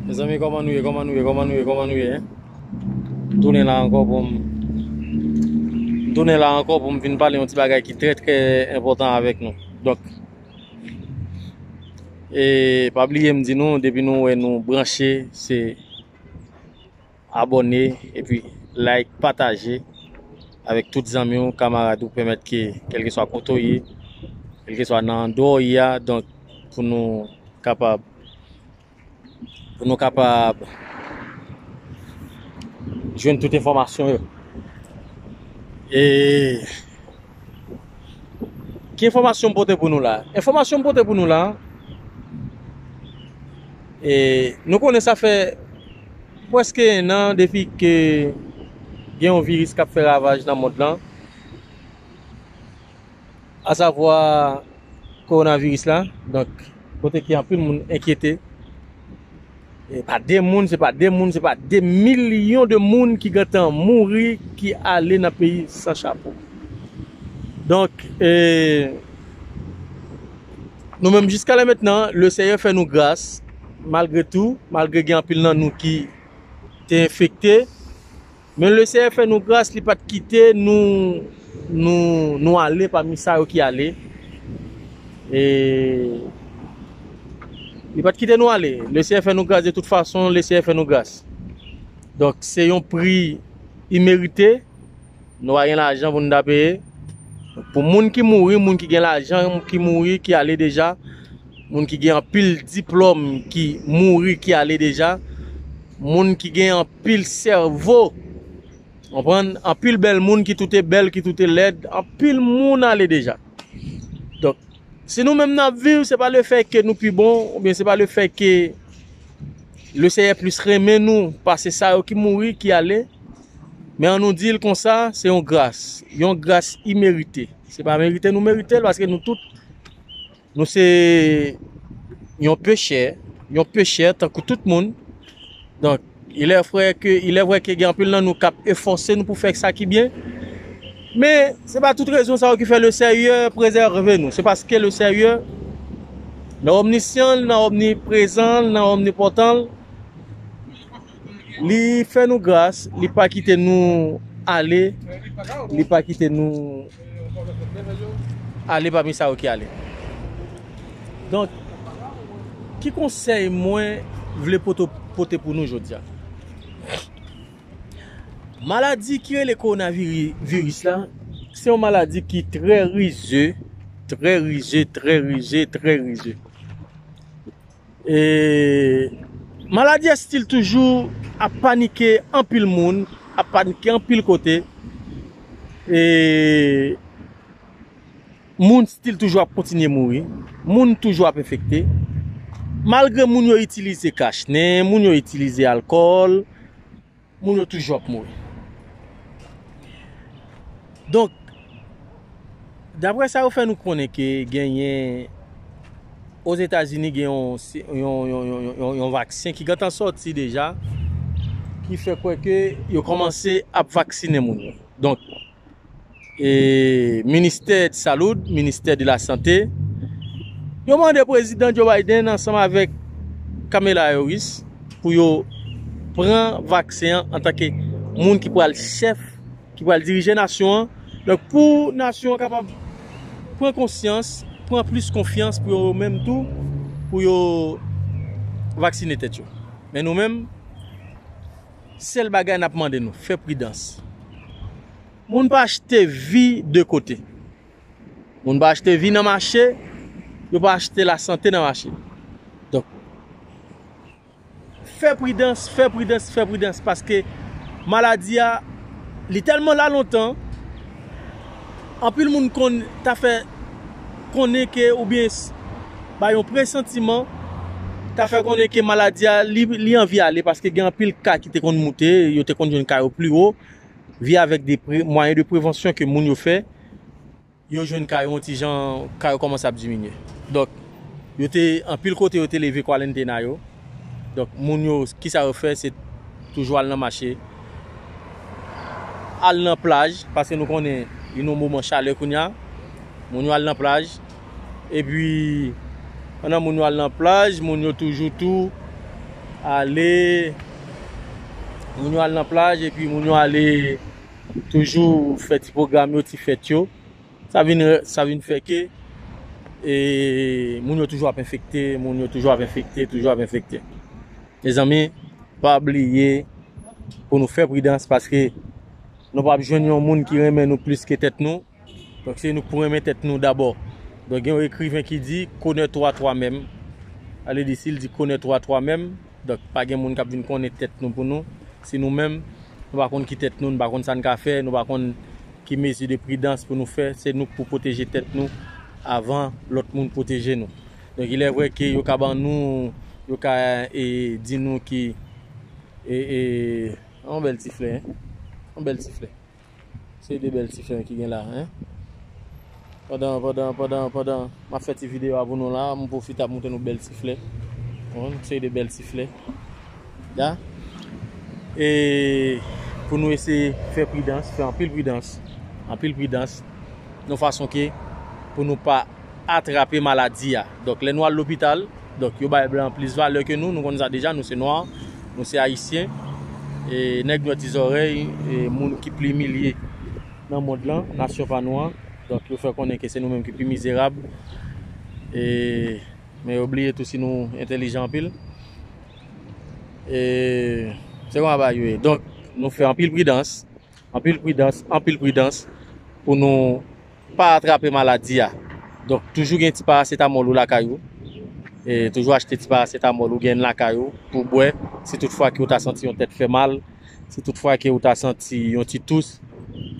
Mezanmi koman nou ye, koman nou ye, koman nou ye, koman nou ye M tounen la ankò pou m M tounen la ankò pou m vin pale yon ti bagay ki trè trè enpòtan avèk nou Dòk E pa bliye m di nou depi nou wè nou branche se Abòne epi like pataje avèk tout zanmi ou kamarad ou pèmèt ke kèlkeswa kote ou ye kèlkeswa nan andeyò ou ye a donk pou nou kapab pou nou kapab jwenn tout enfòmasyon yo e ki enfòmasyon m pote pou nou la enfòmasyon m pote pou nou la e nou konnen sa fè Pwèske 1 an depi ke gen yon viris kap fè ravaj nan mond lan, a savwa kowonaviris la, donk kote ke anpil moun enkyete, e pa 2 moun, se pa 2 moun, se pa 2 milyon de moun ki gentan mouri, ki ale nan peyi san chapo. Donk, e, nou menm jiska lè mentnan, le Seyè fè nou gras, Malgre tou, malgre gen anpil nan nou ki te enfekte, men le Seyè fè nou gras li pat kite nou nou ale pami sa yo ki ale e li pat kite nou ale le Seyè fè nou gras de tout fason le Seyè fè nou gras donk se yon pri imerite. Nou pa gen lajan pou nou ta peye. Pou moun ki mouri, moun ki gen lajan ki mouri, ki ale deja, moun ki gen anpil diplòm ki mouri, ki ale deja, moun ki gen anpil sèvo, anpil anpil bèl moun ki toute bèl, ki toute lèd, anpil moun ale deja. Donk, si nou menm nan ap viv, se pa le fè ke nou pi bon, ou byen se pa le fè ke le seyè plis renmen nou, pase sa yo ki mouri, ki ale, Men an nou di l konsa, se yon gras, yon gras imerite. Se pa merite nou merite l, paske nou tout, nou se yon pechè, yon pechè tankou tout moun. Donk, ilè frè ke, ilè vwè ke gen anpil nan nou kap efòse nou pou fè sa ki byen. Men, se pa tout rezon sa yo ki fè le Sèyè prezève nou. Se paske le Sèyè, nan omnisyan l, nan omniprezan l, nan omnipotan l, Li fè nou gras, li pa kite nou ale, li pa kite nou ale pami sa yo ki ale. Donk, ki konsèy mwen vle pote pou nou jodi a? Maladi ki rele kowonaviris la, se yon maladi ki trè rize, trè rize, trè rize, trè rize. Maladi estil toujou ap panike anpil moun, ap panike anpil kote, e moun stil toujou ap kontinye mouri, moun toujou ap enfekte, malgre moun yo itilize kachnen, moun yo itilize alkòl. Moun yo toujou ap mouri. Donk, dapre sa yo fè nou konnen ke genyen Ozetazini gen yon vaksen ki gentan sòti deja ki fè kwè ke yo kòmanse ap vaksinen moun yo. ministè de saloud, ministè de la sante, yo mande prezidan Joe Biden ansanm avèk Kamela Harris pou yo pran vaksen an an tanke moun ki pral chèf, ki pral dirije nasyon an, donk pou nasyon an kapab pran konsyans, pran plis konfyans pou yo menm tou pou yo vaksine tèt yo. Men nou menm. Sel bagay nap mande nou fè pridans moun pa achte vi de kote moun pa achte vi nan mache yo pa achte la sante nan mache donk fè pridans fè pridans fè pridans paske maladi a li telman la lontan. Anpil moun konn ta fè konnen ke oubyen bay yon presantiman ta fè konnen ke maladi a li anvi ale paske gen anpil ka ki te konn moute, yo te konn jwenn ka yo pli wo, via avèk de mwayen de prevansyon ke moun yo fè, yo jwenn ka yo yon ti jan, ka yo kòmanse ap diminye. Donk, yo te, anpil kote yo te leve kwalentena yo, donk moun yo, kisa yo fè, se toujou al nan mache, Al nan plaj, paske nou konnen li nan moman chalè kounya. Moun yo al nan plaj. E pi, pandan moun yo al nan plaj, moun yo toujou tou ale, moun yo al nan plaj, e pi moun yo ale toujou fè ti pwogram yo, ti fèt yo. Sa vin sa vin fè ke e moun yo toujou ap enfekte, moun yo toujou ap enfekte, toujou ap enfekte. Mezanmi, pa bliye pou nou fè pridans paske nou pa ap jwenn yon moun ki renmen nou plis ke tèt nou. Donk se nou k pou renmen tèt nou dabò. Donk gen yon ekriven ki di, Connais toi toi-même. Sa vle di si l di Connais toi toi-même. Donk, pa gen moun k ap vin konnen tèt nou pou nou. Si nou menm, nou pa konn ki tèt nou, nou pa konn sa n ka fè, nou pa konn ki mezi de pridans pou nou fè, se nou k pou pwoteje tèt nou avan lòt moun pwoteje nou. Donk, ilè vrè ke yo ka ban nou, yo ka di nou ki, e, e, yon bèl ti flè, yon bèl ti flè. Se de bèl ti fen ki gen la hein. Pandan pandan pandan pandan map fè ti video a pou nou la, m pwofite ap montre nou bèl ti flè. Yon seri de bèl ti flè. Da. E pou nou eseye fè pridans, fè anpil pridans, anpil pridans yon fason ke pou nou pa atrape maladi a. Donk lè nou al lopital, donk yo bay blan plis valè ke nou, nou konn sa deja, nou se nwa, nou se ayisyen, e nèg nwè ti zòrèy, e moun ki pli imilye nan mond lan, nasyon pa nou an, donk yo fè konnen ke se nou menm ki pi mizerab, e men yo bliye tou si nou entelijan anpil. E se konsa bagay yo ye. Donk nou fè anpil pridans, anpil pridans, anpil pridans pou nou. Pa atrape maladi a. Donk toujou gen ti parasetamòl ou lakay ou. Toujou achte ti parasetamòl ou gen lakay ou pou bwè si tout fwa ke ou ta santi yon tèt fè mal, si tout fwa ke ou ta santi yon ti tous.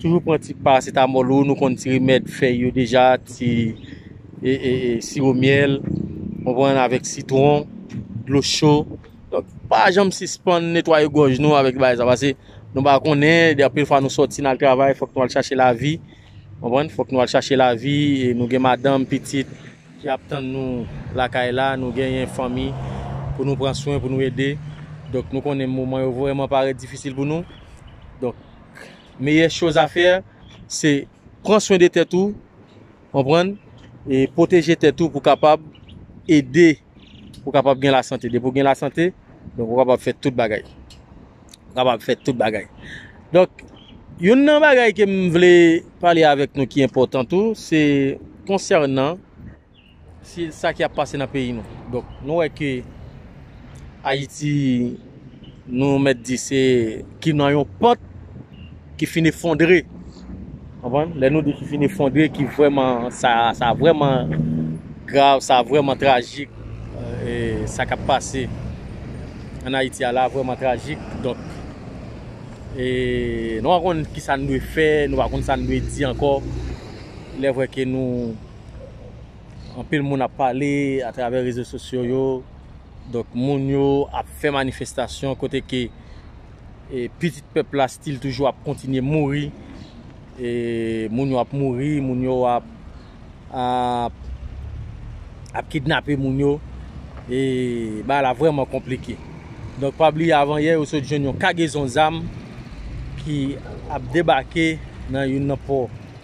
Toujou pran ti parasetamòl ou, nou konn ti remèd fèy yo deja, ti siwo myèl, ou konprann, avèk sitwon, dlo cho. Donk pa janm sispann netwaye gòj nou avèk bagay sa. Pase nou pa konnen, anpil fwa nou sòti nan travay, fòk nou al chache lavi. Konprann? Fòk nou al chache lavi, nou gen madanm, pitit ki ap tann nou lakay la, nou genyen fanmi pou nou pran swen, pou nou ede. Donk nou konnen moman yo vrèman parèt difisil pou nou. Donk, meyè choz a fè, se pran swen de tèt ou, konprann? E pwoteje tèt ou pou kapab ede. Ou kapab gen lasante. Depi ou gen lasante, donk ou kapab fè tout bagay. Ou kapab fè tout bagay. Donk, youn nan bagay ke m vle pale avèk nou ki enpòtan tou, se konsènan sa ki ap pase nan peyi nou. Donk, nou wè ke Ayiti. nou mèt di se ki nan yon pant ki fin efondre. Konprann? Lè nou di ki fin efondre, ki vreman, sa, sa vreman grav, sa vreman trajik, e, sa kap pase an Ayiti a la vreman trajik, donk, e, nou pa konn ki sa nou dwe fè, nou pa konn sa nou dwe di ankò, lè vre ke nou. Anpil moun ap pale atravè rezo sosyo yo, donk moun yo ap fè manifestasyon kote ke pitit pèp la stil toujou ap kontinye mouri, moun yo ap mouri, moun yo ap kidnape moun yo, e bagay la vreman konplike. Donk pa bliye avan yè yo sot jwenn yon kagezon zam ki ap debake nan youn nan pò.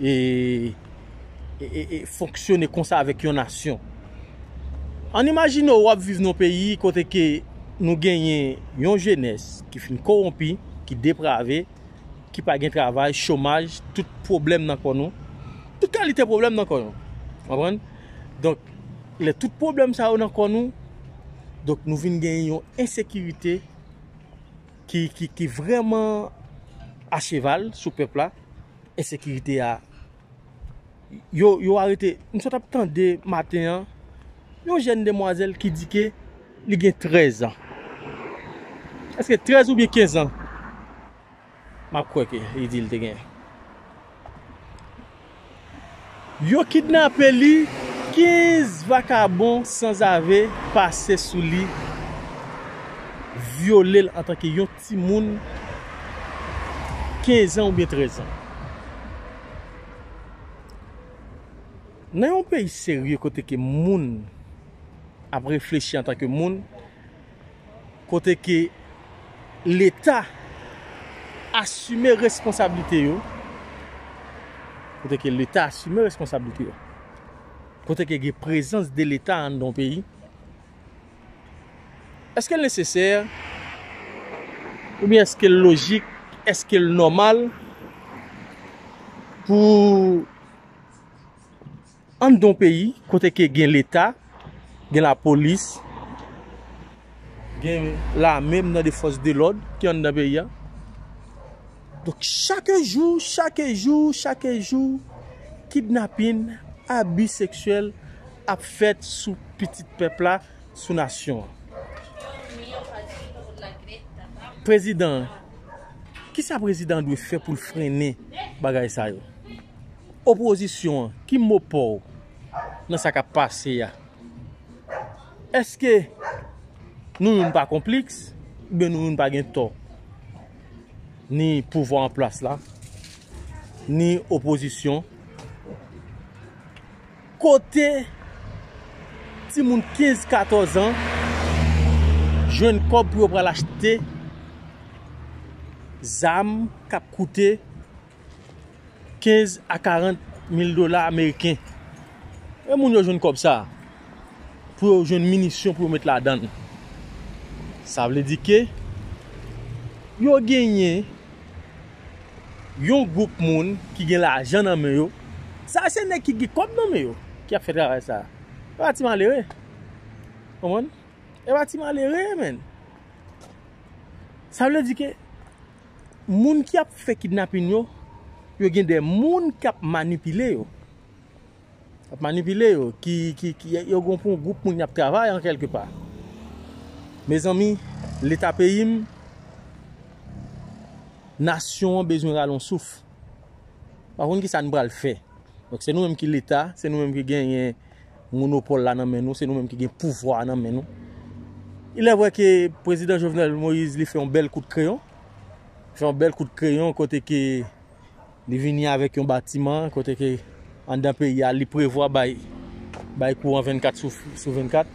e fonksyone konsa avèk yon nasyon. Ann imajine ou ap viv nan yon peyi kote ke nou genyen yon jenès ki fin kowonpi, ki deprave, ki pa gen travay, chomaj, tout pwoblèm nan kò nou. Tout kalite pwoblèm nan kò nou. Ou konprann? Donk, lè tout pwoblèm sa yo nan kò nou, donk nou vin genyen yon ensekirite ki vrèman acheval sou pèp la. ensekirite a, yo arete, m sot ap tande maten an, yon jèn demwazèl ki di ke li gen 13 an. Eske 13 oubyen 15 an? M ap kwè ke li di li te gen. Yo kidnape li, 15 vakabon sanzave pase sou li, vyole l antanke yon. Timoun 15 an oubyen 13 an. Nan yon peyi serye kote ke moun ap reflechi antan ke moun, kote ke leta asime responsablite yo, kote ke leta asime responsablite yo, kote ke gen prezans de leta anndan yon peyi, Èske l nesesè? Oubyen èske l lojik? Èske l nòmal? Pou anndan yon peyi kote ke gen leta, gen lapolis, gen lame, m tande fòs de lòd ki anndan peyi a. Donk chak jou, chak jou, chak jou kidnapin, abi seksyèl ap fèt sou pitit pèp la, sou nasyon an. Prezidan an, kisa prezidan an dwe fè pou l frennen bagay sa yo? Opozisyon an, ki mo pa w nan sa k ap pase a? Eske nou youn pa konpliks oubyen nou youn pa gen tò? ni pouvwa an plas la, ni opozisyon. Kote ti moun 15, 14 an, jwenn kòb pou yo pral achte zam kap koute. 15 a 40 mil dola ameriken. E moun yo jwenn kòb sa a? Pou yo jwenn minisyon pou yo met ladan. Sa vle di ke yo genyen yon gwoup moun ki gen lajan nan men yo. Sa a se nèg ki gen kòb nan men yo ki ap fè travay sa a. E pa ti malere. Konprann? E pa ti malere menn. Sa vle di ke. moun ki ap fè kidnapin yo, yo gen de moun k ap manipile yo. K ap manipile yo, ki, ki, ki, yo gen pou yon gwoup moun y ap travay an kèlke pa. Mezanmi, leta peyi m, nasyon an bezwen rale yon souf. Pa konn ki sa nou pral fè. Donk se nou menm ki leta, se nou menm ki genyen Monopòl la nan men nou, se nou menm ki gen pouvwa a nan men nou. Ilè vwè ke prezidan Jovenel Moïse li fè yon bèl kout kreyon, fè yon bèl kout kreyon kote ke li vini avèk yon batiman, kote ke andan peyi a li prevwa bay, bay kouran 24 sou 24.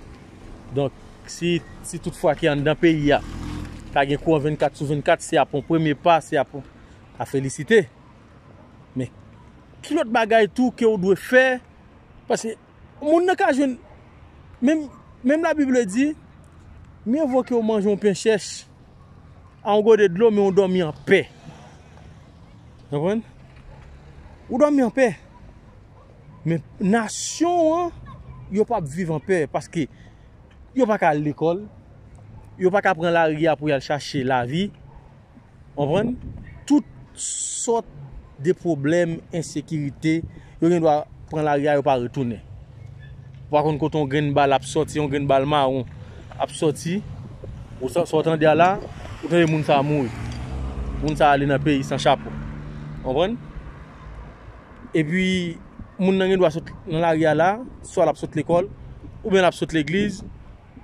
Donk, si, si tout fwa ke andan peyi a, ta gen kouran 24 sou 24, se ap yon premye pa, se ap a felisite. Men ki lòt bagay tou ke ou dwe fè, paske moun nan ka jwenn, menm, menm la bib le di, mye vo ke ou manje yon pen chèch, a yon gode dlo men ou dòmi an pè. Konprann? Ou dòmi an pè. Men nasyon an, yo pa ap viv an pè, paske yo pa ka al lekòl, yo pa ka pran lari a pou yal chache lavi. Konprann? Tout sòt de pwoblèm, ensekirite, yo gen dwa pran lari a yo pa retounen. Ou pa konn kote yon grenn bal ap sòti, yon grenn bal mawon ap sòti. Ou sa w tande a la, ou tande moun sa a mouri. Moun sa a ale nan peyi san chapo. Konprann? E pi, moun nan gen dwa sot nan lari a la, swa l ap sot lekòl, oubyen l ap sot legliz.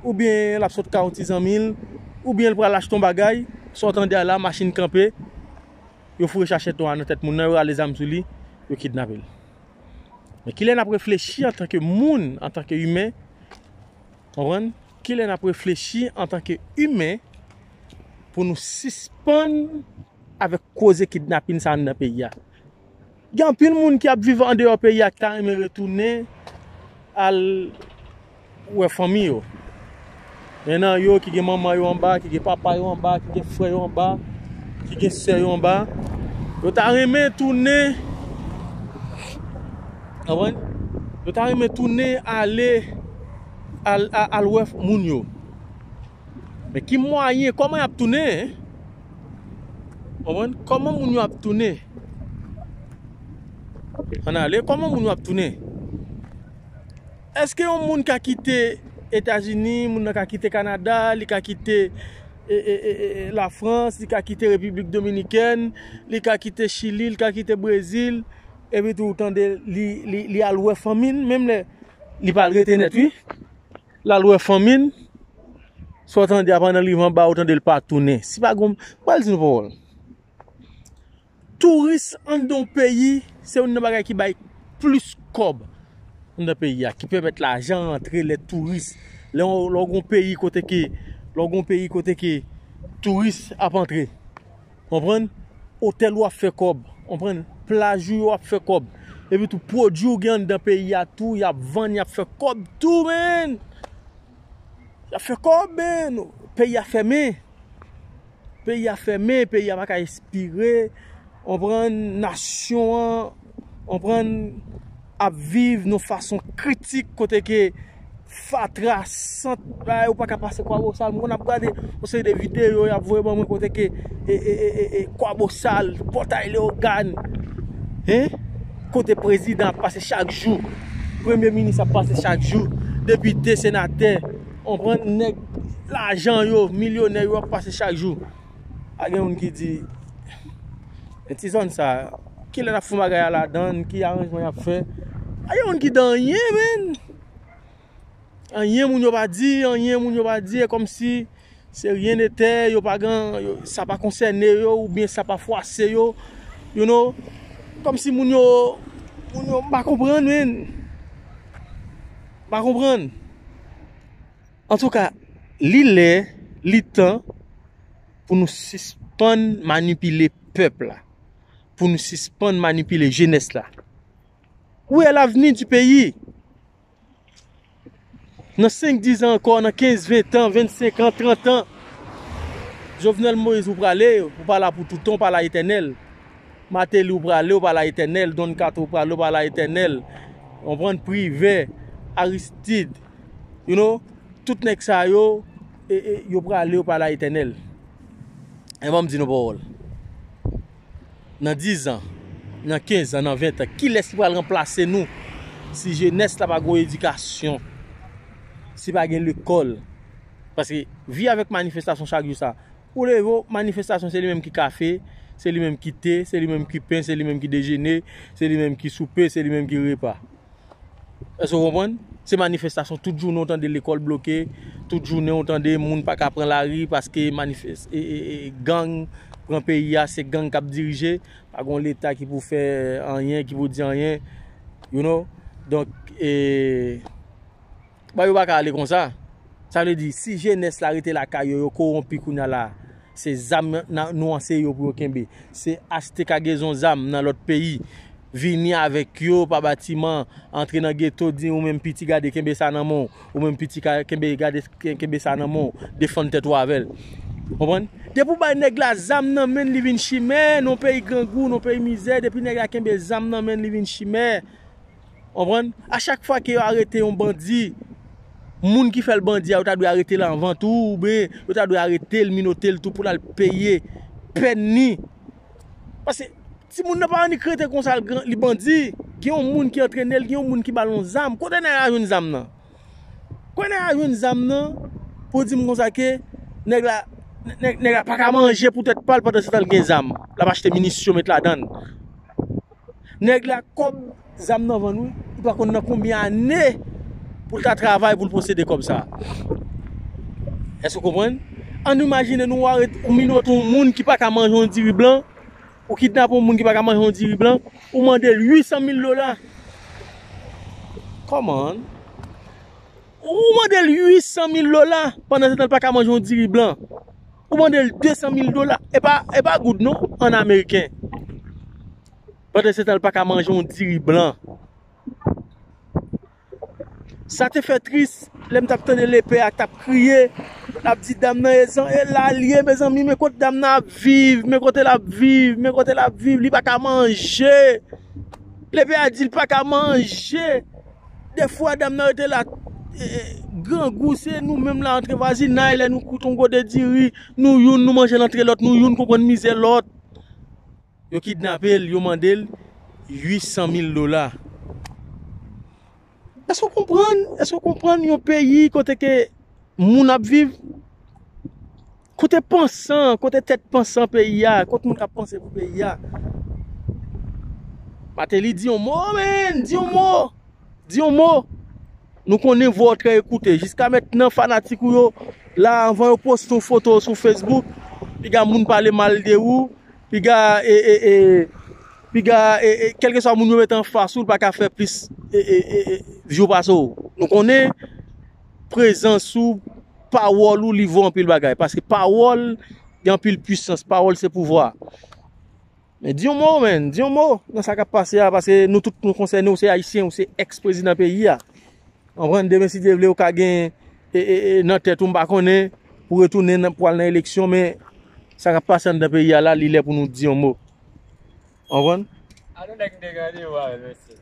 oubyen l ap sot ka yon ti zanmi l, oubyen l pral achte yon bagay, sa w tande a la, machin kanpe, yo foure chachèt nwa a nan tèt moun nan, yo rale zam sou li, yo kidnape l. Men kilè n ap reflechi antanke moun, antanke imen, konprann, kilè n ap reflechi antanke imen pou nou sispann avèk koze kidnapin sa anndan peyi a? Gen anpil moun ki ap viv andeyò peyi a ki ta renmen retounen al wè fanmi yo. Gen nan yo ki gen manman yo anba, ki gen papa yo anba, ki gen frè yo anba, ki gen sè yo anba. Yo ta renmen tounen, anpwen, yo ta renmen tounen ale al wè moun yo. Men ki mwayen, kòman y ap tounen? Konprann? Kòman moun yo ap tounen? Ann ale, kòman moun yo ap tounen? Èske yon moun ka kite Etazini, moun nan ka kite Kanada, li ka kite Lafrans, li ka kite Repiblik Dominikèn, li ka kite Chili, li ka kite Brezil, epi tou ou tande li al wè fanmi l, menm lè li pa al rete nèt wi. Lal wè fanmil. Sa w tande a pandan liv anba ou tande l pa tounen. Si pa gon, pral di nou pawòl. Touris anndan yon peyi se youn nan bagay ki bay plis kòb anndan peyi a. Ki pèmèt lajan rantre lè touris. Lè w gon peyi kote ke, lè w gon peyi kote ke touris ap antre. Konprann? Otèl ou ap fè kòb. Konprann? Plaj ou yo ap fè kòb. Epi tou pwodui ou gen anndan peyi a tou y ap vann y ap fè kòb tou menn. Y ap fè kòb menn. Peyi a fèmen. Peyi a fèmen. Peyi a pa ka espire. Konprann? Nasyon an. Konprann? ap viv yon fason kritik kote ke fatra sant bagay ou pa ka pase kwabosal mwen konn ap gade yon seri de video yap voye ban mwen kote ke e kwabosal pòtay leogàn kote prezidan ap pase chak jou premye minis ap pase chak jou depite senatè lajan yo milyonè yo ap pase chak jou Pa gen moun ki di, men ti zòn sa, ki lè n ap fon bagay a ladan l, ki aranjman y ap fè. Pa gen moun ki di anyen menn. Anyen moun yo pa di, anyen moun yo pa di. E kòm si se ryen netè, yo pa gen, sa pa konsène yo oubyen sa pa fwase yo. You know. Kòm si moun yo, moun yo m pa konprann menn. M pa konprann. Antouka, li lè, li tan pou nou sispann manipile pèp la, pou nou sispann manipile jenès la. Ou è lavni di peyi. Nan 5, 10 an ankò, nan 15, 20 an, 25 an, 30 an, Jovenel Moïse ou prale, ou pa la pou toutan, ou pa la etènèl. Mateli ou prale, ou pa la etènèl. Don Kato ou prale, ou pa la etènèl. Ou pran privè, Aristide. You know, tout nèg sa yo, e, e, yo prale, yo prale a etènèl. E ban m di nou pawòl. Nan dizan, nan kenzan, nan ventan, kilès ki pral ranplase nou si jenès la pa gen yon edikasyon, si pa gen lekòl? Paske, vi avèk manifestasyon chak jou sa. Ou leve w, manifestasyon se li menm ki kafe, se li menm ki te, se li menm ki pen, se li menm ki dejene, se li menm ki soupe, se li menm ki repa. Èske ou konprann? Se manifestasyon tout jounen ou tande lekòl bloke, tout jounen ou tande moun pa ka pran lari paske manifes... e, e, e, gang pran peyi a, se gang k ap dirije, pa gon leta ki pou fè anyen, ki pou di anyen, you know, donk e. Bon yo paka ale konsa. Sa vle di si jenès la rete lakay yo yo kowonpi kounya la se zam nou anseye yo pou yo kenbe. Se achte kagezon zam nan lòt peyi vini avèk yo pa batiman antre nan geto di ou menm piti gade kenbe sa nan men w. Ou menm piti kenbe gade kenbe sa nan men w defann tèt ou avè l. Konprann? Depi w bay nèg la zam nan men l li vin chimè, nou peyi grangou, nou peyi mizè depi nèg la kenbe zam nan men l li vin chimè. Konprann? A chak fwa ke yo arete yon bandi, moun ki fèl bandi a yo ta dwe aretel anvan tou ou byen yo ta dwe aretel, minotel tou poul al peye pèn ni. Pase timoun nan pa annik rete konsa li bandi. Gen yon moun ki antrenel, gen yon moun ki bal yon zam. Kote nèg la jwenn zam nan? Kote nèg la jwenn zam nan pou dim konsa ke nèg la, nèg la paka manje pou tèt pal pandan setan li gen zam. Lap achte minisyon met ladann. Nèg la kòb zam nan vann wi, li pa konn nan konbyen ane pou l ta travay pou l posede kòb sa. Èske ou konprann? An nou imajine nou ware ou minote yon moun ki pa ka manje yon diri blan, ou kidnape yon moun ki pa ka manje yon diri blan, ou mande l 800 mil dola. Kòman? Ou mande l 800 mil dola pandan se tan l pa ka manje yon diri blan. Ou mande l 200 mil dola. E pa goud non, an ameriken. Pandan se tan l pa ka manje yon diri blan. Sa te fè tris, lè m t ap tande lepè a t ap kriye, l ap di dam nan e zan, e la l ye mezanmi, men kote dam nan ap viv, men kote l ap viv, men kote l ap viv, li pa ka manje. Lepè a di l pa ka manje. De fwa dam nan rete la grangou se nou menm la antre vwazinay lè nou koute yon gode diri nou youn nou manje l antre lòt nou youn konprann mizè lòt. Yo kidnape l, yo mande l 800 mil dola. Èske w konprann, èske w konprann yon peyi kote ke moun ap viv? Kote pansan, kote tèt pansan peyi a, kot moun kap panse pou peyi a. Mateli di yon mo menn, di yon mo, di yon mo. Nou konnen vwa w trè ekoute, jiska mèt nan fanatik ou yo, la anvan yo poste yon foto sou Facebook, piga moun pale mal de ou, piga e, e, e, piga e, e, kelke swa moun yo mèt anfas ou, l pa ka fè plis, e, e, e, e, jou pase w. Nou konnen prezans ou. Pawòl ou li vo anpil bagay. Paske pawòl gen anpil pwisans. Pawòl se pouvwa. Men di yon mo men. Di yon mo nan sa kap pase a. Paske nou tout nou konsène ou se ayisyen. Ou se ex prezidan peyi a. An pran demen si Dye vle ou ka gen. E e e nan tèt ou mpa konnen. Pou retounen nan pwal nan eleksyon. Men sa kap pase an dan peyi a la. Li lè pou nou di yon mo. An pran. Anou nèg mte gade ou a. Mèsi.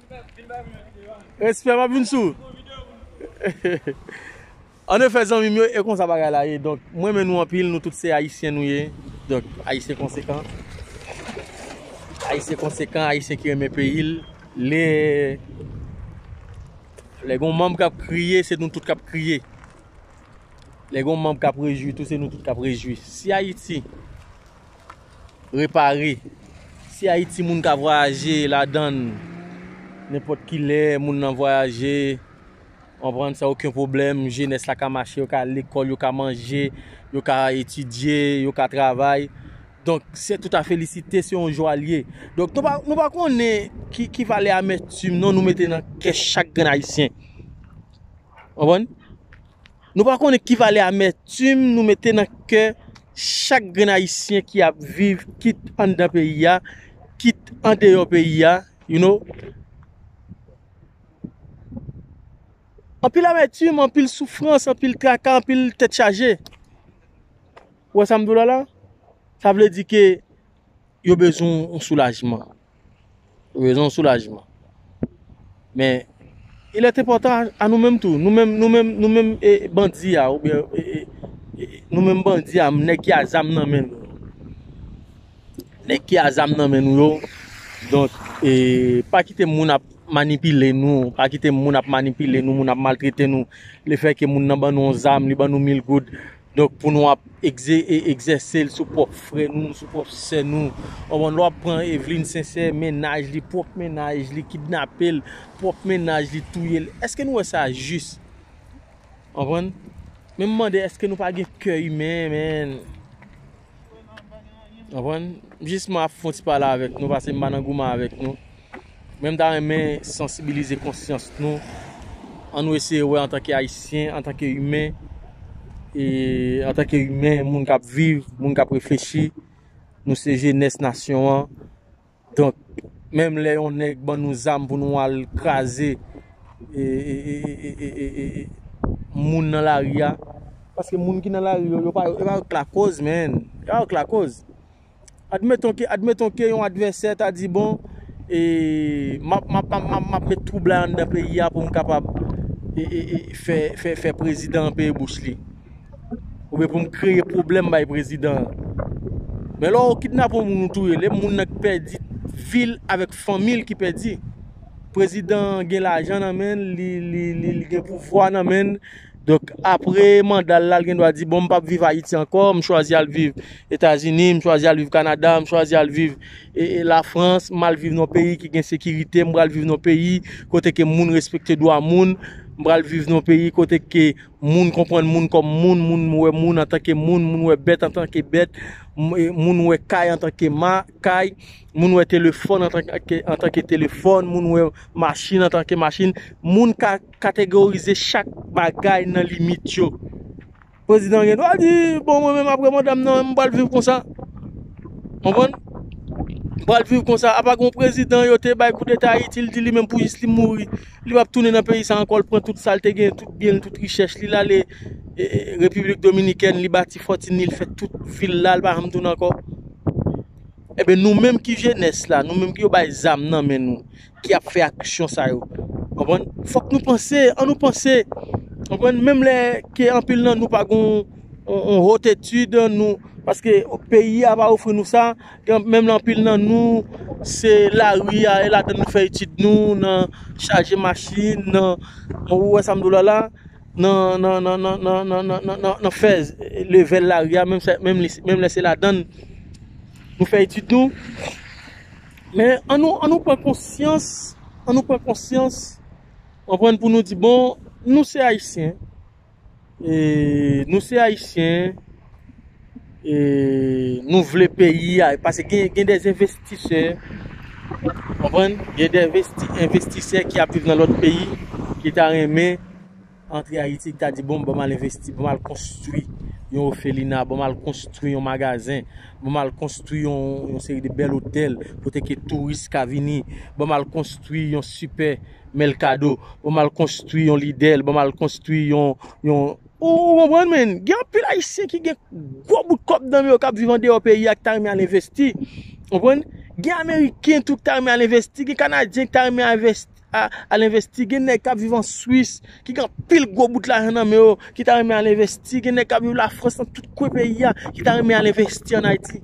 Respè map vin sou. An efè zanmim yo e konsa bagay la ye donk m renmen nou anpil nou tout se ayisyen nou ye donk ayisyen konsekan ayisyen konsekan ayisyen ki renmen peyi l lè lè gon manm kap kriye se nou tout kap kriye lè gon manm kap rejwi tou se nou tout kap rejwi si ayiti repare. Si Ayiti moun ka vwayaje ladann nenpòt ki lè, moun nan vwayaje, anprann san oken pwoblèm, jenès la ka mache, yo ka al lekòl, yo ka manje, yo ka etidye, yo ka travay. Donk, se tout a felisite, se yon jwa l ye. Donk, nou pa konnen ki valè amètim non nou mete nan kè chak grenn Ayisyen. Anprann? Nou pa konnen ki valè amètim nou mete nan kè chak grenn ayisyen ki ap viv kit anndan peyi a, kit andeyò peyi a, you know. Anpil amètim, anpil soufrans, anpil traka, anpil tèt chaje. Ou wè sa m di w la la? Sa vle di ke. yo bezwen yon soulajman. Yo bezwen yon soulajman. Men, il est important a nou menm tou. Nou menm, nou menm, nou menm e bandi a ou byen e, e, e, e, nou menm bandi a, nèg ki a zam nan men nou. Nèg ki a zam nan men nou yo. Donk, e, pa kite moun ap manipile nou. Pa kite moun ap manipile nou, moun ap maltrete nou. Le fè ke moun nan ban nou yon zam, li ban nou mil goud. Donk pou nou ap egzèse l sou pwòp frè nou, sou pwòp sè nou. Ou konprann? Lè w ap pran Evelyne Sincère, mennaj li, pwòp mennaj li kidnape l, pwòp mennaj li touye l. Èske nou wè sa jis? Ou konprann? Men m mande èske nou pa gen kè imen, menn? Konprann? Jis mwen ap fon ti pale avèk nou pase m pa nan goumen avèk nou. Men m ta renmen sansibilize konsyans nou. An nou eseye wè antanke ayisyen, antanke imen, e antanke imen, moun k ap viv, moun k ap reflechi, nou se jenès nasyon an. Donk menm lè yon nèg ban nou zam pou nou al kraze moun nan lari a, paske moun ki nan lari yo, yo pa yo k lakoz menn, yo pa yo k lakoz. Admeton ke, admeton ke yon advèsè ta di bon e map, map, map, map, map met twoub la anndan peyi a pou m kapab e, e, e fè, fè, fè prezidan an peye bouch li. Ou byen pou m kreye pwoblèm bay prezidan an. Men lò ou kidnape yon moun ou touye l, e moun nan ki pèdi vi l avèk fanmi l ki pèdi. Prezidan an gen lajan nan men l, li gen pouvwa nan men l. Donk apre manda l la, l gen dwa di bon m pa p viv Ayiti ankò, m chwazi al viv Etazini, m chwazi al viv Kanada, m chwazi al viv Lafrans, m al viv nan yon peyi ki gen sekirite, m pral viv nan yon peyi kote ke moun respekte dwa moun, m pral viv nan yon peyi kote ke... moun konprann moun kòm moun, moun wè moun antanke moun, moun wè bèt antanke bèt, moun wè kay antanke kay, moun wè telefòn antanke telefòn, moun wè machin antanke machin, moun ka kategorize chak bagay nan limit yo. Prezidan an gen dwa di, bon mwen menm apre manda m nan m pral viv konsa. Konprann? M pral viv konsa. Apa gen yon prezidan yo te bay koudeta Ayiti, li di li menm pou jis li mouri. Li pap tounen nan peyi sa ankò, li pran tout sa l te gen, tout byen l, tout richès li, li ale Repiblik Dominikèn, li bati fòtin li, li fè tout vil la, li pa janm tounen ankò. Eben nou menm ki jenès la, nou menm ki yo bay zam nan men nou, ki ap fè aksyon sa yo. Konprann? Fòk nou panse, an nou panse. Konprann? Menm lè ke anpil nan nou pa gon yon haute étude, nou, paske peyi a pa ofri nou sa. Menm anpil nan nou se lari a e ladan nou fè etid nou nan chaje machin nan ou wè sa m di w la la nan fè levèl lari a menm lè se ladan nou fè etid nou men an nou pran konsyans an nou pran konsyans pou nou di bon nou se ayisyen E nou se ayisyen e nou vle peyi a pase gen gen des envestisè konprann gen des vesti envestisè ki ap viv nan lòt peyi ki ta renmen antre ayiti ki ta di bon banm al envesti banm al konstwi yon ofelina banm al konstwi yon magazen banm al konstwi yon yon seri de bèl otèl kote ke touris ka vini banm al konstwi yon sipè men l kado pou m al konstwi yon lide l pou m al konstwi yon yon ou konprann men gen anpil ayisyen ki gen gwo bout kòb nan men yo k ap viv andeyò peyi a ki ta renmen al envesti ou konprann gen ameriken tou ki ta renmen al envesti gen kanadyen ki ta renmen al envesti gen nèg k ap viv an swis ki gen anpil gwo bout lajan nan men yo ki ta renmen al envesti gen nèg k ap viv lafrans nan tout kwen peyi a ki ta renmen al envesti an ayiti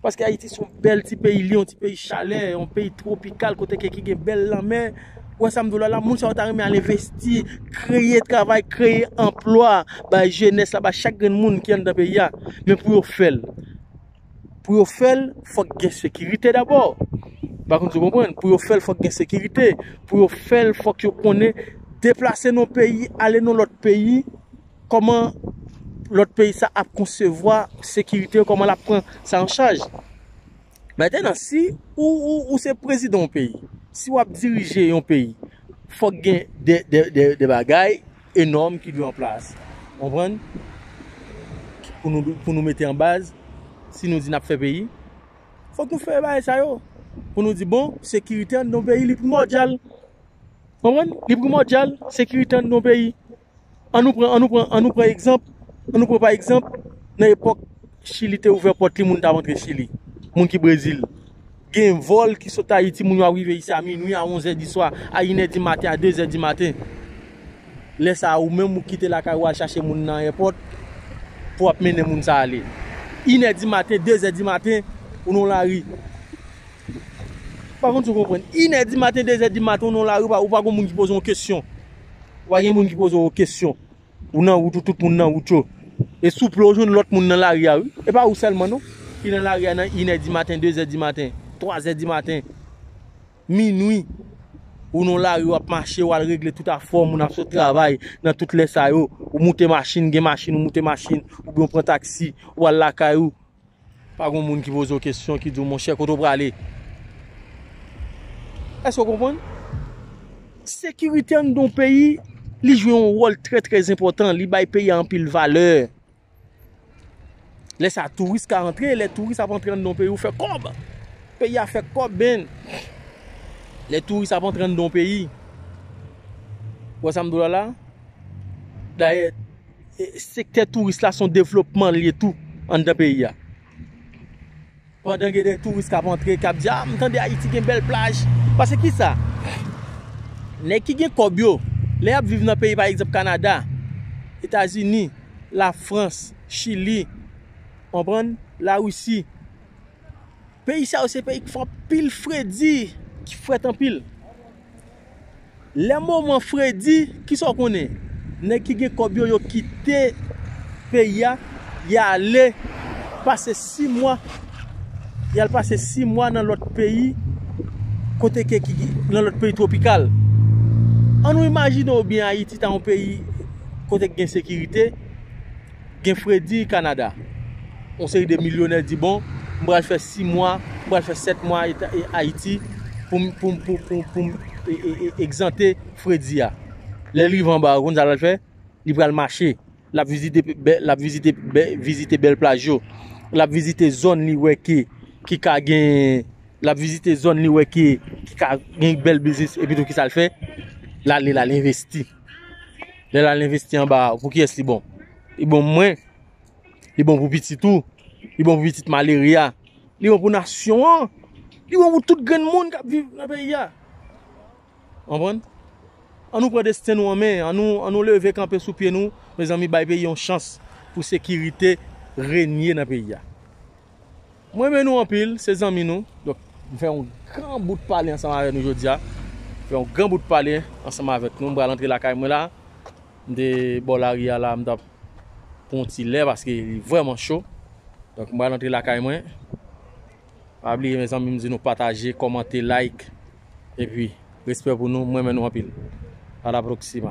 Paske Ayiti son bèl ti peyi, li yon ti peyi chalè, yon peyi twopikal kote ke ki gen bèl lanmè. Ou wè sa m di w la la, moun sa yo ta renmen al envesti, kreye travay, kreye anplwa bay jenès la, bay chak grenn moun ki anndan peyi a. Men pou yo fè l, pou yo fè l, fòk gen sekirite dabò. M pa konn si w konprann. Pou yo fè l, fòk gen sekirite. Pou yo fè l, fòk yo konnen deplase nan yon peyi, ale nan lòt peyi. kòman lòt peyi sa ap konsevwa sekirite yo, kòman l ap pran sa an chaj. Mètenan, si ou se prezidan yon peyi, si w ap dirije yon peyi, fòk gen de bagay enòm ki dwe an plas. Konprann? Pou nou mete an baz, si nou di n ap fè peyi, fòk nou fè bagay sa yo. Pou nou di, bon, sekirite an nan yon peyi li primòdyal. Konprann? Li primòdyal, sekirite an nan yon peyi. An nou pran, an nou pran, an nou pran egzanp, an nou pran pa egzanp, nan epòk Chili te ouvè pòt li moun ta antre Chili, moun ki Brezil. Gen vòl ki sot Ayiti moun yo ap rive isi a minui, a onzè di swa, a inè di maten, a dezè di maten. Lè sa a ou menm ou kite lakay ou al chache moun nan èpòt pou ap mennen moun sa ale. Inè di maten, dezè di maten, ou nan yon lari. M pa konn si w konprann. Inè di maten, dezè di maten ou nan yon lari ou pa gon moun ki poze w yon kesyon. Ou pa gen moun ki poze w kesyon. Ou nan wout ou, tout moun nan wout yo. E souple ou jwenn lòt moun nan lari a wi. E pa ou sèlman non ki nan lari a nan inè dimaten, dezè dimaten, twazè dimaten, minwi. Ou nan lari w ap mache, w al regle tout afè w, moun ap sot travay nan tout lè sa yo. Ou moute machin, gen machin ou moute machin. Oubyen ou pran taksi, ou al lakay ou. Pa gon moun ki poze w kesyon ki di w monchè kote w prale? Èske w konprann? Sekirite anndan yon peyi li jwe yon wòl trè trè enpòtan, li bay peyi a anpil valè. Lè sa touris ka antre, lè touris ap antre anndan yon peyi ou fè kòb. Peyi a fè kòb men. Lè touris ap antre anndan yon peyi. Ou wè sa m di w la la? Dayè. Sektè touris la son devlopman li ye tou anndan peyi a. Pandan gen de touris k ap antre, k ap di, a m tande Ayiti gen bèl plaj. Pase ki sa? Nèg ki gen kòb yo, lè y ap viv nan peyi pa egzanp Kanada, Etazini, Lafrans, Chili, konprann, Larisi. Peyi sa yo se peyi k fè anpil fredi, ki frèt anpil. Lè moman fredi, kisa w konnen? Nèg ki gen kòb yo, yo kite peyi a, y ale pase si mwa, y al pase si mwa nan lòt peyi, kote ke ki, nan lòt peyi twopikal. An nou imajine ou byen Ayiti ta yon peyi kote ki gen sekirite, Gen fredi Kanada. Yon seri de milyonè di bon, m pral fè 6 mwa, m pral fè 7 mwa Ayiti pou m, pou m, pou m egzante fredi a. Lè l rive anba a, ou konn sa l pral fè? Li pral mache. L ap vizite, l ap vizite, vizite bèl plaj yo. L ap vizite zòn li wè ke, ki ka gen, l ap vizite zòn li wè ke, ki ka gen bèl biznis epitou ki sa l fè? L ale, l al envesti. Lè la l'investi anba a, pou kiyès li bon? Li bon pou mwen, li bon pou pitit ou, li bon pou pitit malere a, li bon pou nasyon an, li bon pou tout grenn moun kap viv nan peyi a. Anpwen? An nou pran desten nou an men, an nou leve kanpe sou pye nou, mezanmi bay peyi yon chans pou sekirite renye nan peyi a. M renmen nou anpil, se zanmi nou. Donk, m fè yon gran bout pale ansanm avèk nou jodi a. M fè yon gran bout pale ansanm avèk nou. M pral antre lakay mwen la. M te bò lari a la, m t ap pran yon ti lè paske li vrèman cho. Donk, m pral antre lakay mwen. Pa bliye mezanmi m di nou pataje, kòmante, like. Epi, respè pou nou. M renmen nou anpil. A la proksima.